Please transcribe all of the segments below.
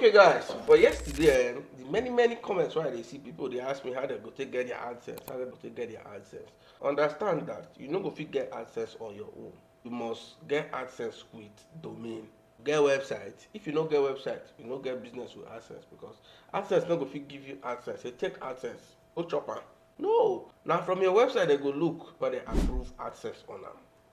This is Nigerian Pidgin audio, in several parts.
okay guys for yesterday um, the many many comments where they see people they ask me how they go take get their answers how they go take get their answers understand that you no go fit get answers on your own you must get answers with domain get website if you no get website you no get business with access because access no go fit give you access say take access go chop am no na from your website dem go look whether they approve access on am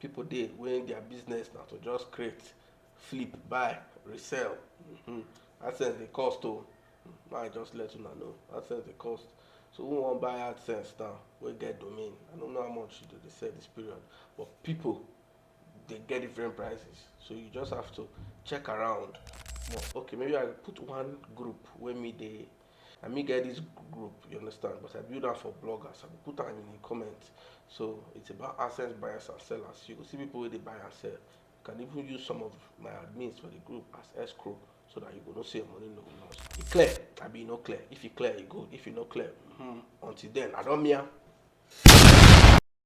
People dey wey their business na to just create, flip, buy, resell. um Adsense dey cost o. Make I just let una know. Adsense dey cost. So who wan buy Adsense now wey get domain? I no know how much e dey sell this period but people dey get different prices. So you just have to check around. Okay, maybe I go put one group wey me dey na me get this group you understand but i build am for bloggers i go put am in the comment so it's about assets buyers and sellers you go see people wey dey buy and sell you can even use some of my admins for the group as escrow so that you go know say your money no go lost e clear abi e no clear if e clear e good if e no clear hmm until then i don mia.